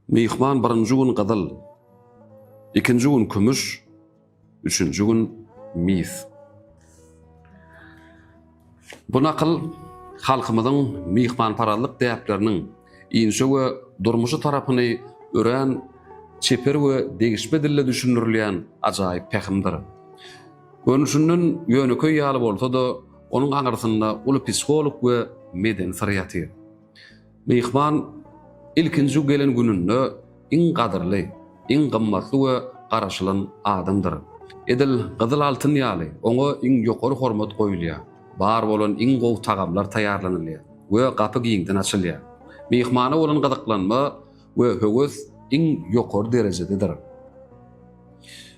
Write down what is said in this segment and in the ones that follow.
Myhman birinji gün gyzyl, ikinji gün kümüş, üçünji gün mis. Bu nakyl halkymyzyň myhmanparazlyk däpleriniň inçe we durmuşy tarapyny örän çeper we degişme dilde düşündirilýän ajaýyp pähimdir. Görnüşinden ýönekeý ýaly bolsa-da, onuň aňyrsynda uly psiholog we medeni syr ýatyr. Myhman ilkinji gelen gününde iň gadyrly, iň gymmatly we garaşylan adamdyr. Edil gyzyl altyn ýaly, oňa iň ýokary hormat goýulýar, bar bolan iň gowy tagamlar taýýarlanylýar we gapy giňden açylýar. Myhmana bolan gyzyklanma we höwes iň ýokary derejededir.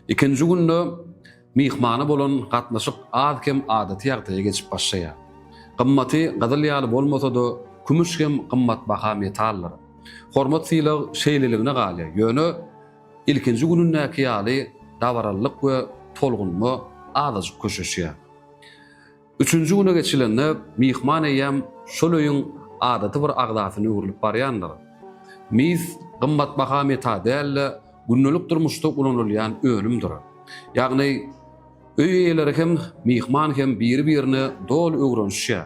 Ikinji günde Myhmana bolan gatnaşyk az-kem adaty ýagdaýa geçip başlaýar. Gymmaty gyzyl ýaly bolmasa-da, kümüş hem gymmatbaha metaldyr. Hormat-sylag şeýleligine galýar, ýöne ilkinji günündäki ýaly dabaralylyk we tolgunma azajyk köşeşýär. Üçünji güne geçilende myhman eýýäm şol öýüň adaty bir agzasyna öwrülip barýandyr. Mis gymmatbaha meta däl-de, gündelik durmuşda ulanylýan önümdir. Ýagny, öý eýeleri hem, myhman hem biri-birine doly öwrenişýär.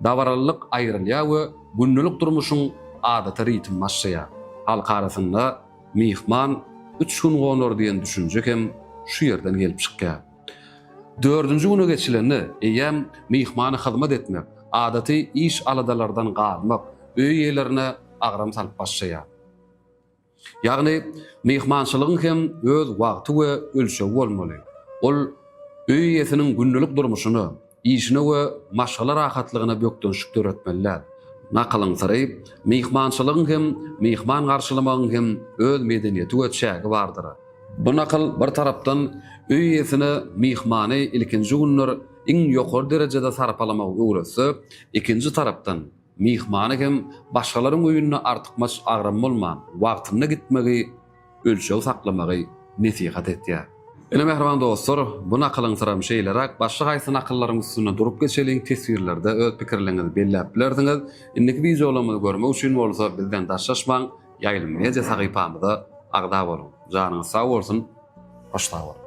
Dabaralylyk aýrylýar we gündelik durmuşyň adaty ritmi başlaýar. Halk arasynda myhman üç gün gonar diýen düşünje hem şu ýerden gelip çykýar. Dördünji güne geçilende, eýýäm myhmana hyzmat etmek, adaty iş-aladalardan galmak öý eýelerine agram salyp başlaýar. Ýagny, myhmançylygyň hem öz wagty we ölçegi bolmaly. Ol öý eýesiniň gündelik durmuşyna, Işine we maşgala rahatlygyna bökdençlik döretmeli däl. Nakylyň syry, Myhmançylygyň hem, myhman garşylamagyň hem öz medeniýeti we çägi bardyr. Bu nakyl, bir tarapdan, öý eýesine myhmany ilkinji günler iň ýokary derejede sarpalamagy öwretse, ikinji tarapdan, Myhmana hem başgalaryň öýünde artykmaç agram bolman, wagtynda gitmegi, ölçeg saklamagy nesihat etýär. Ine, mähriban dostlar, bu nakylyňsyram şeýleräk, başga haýsy nakyllaryň üstünde durup geçeliň, teswirlerde öz pikirleriňizi belläp bilersiňiz. Indiki wideolarymyzy görmek üçin bolsa bizden daşlaşmaň, Ýaýlym media sahypamyza agza boluň. Janyňyz sag bolsun, hoş sag boluň!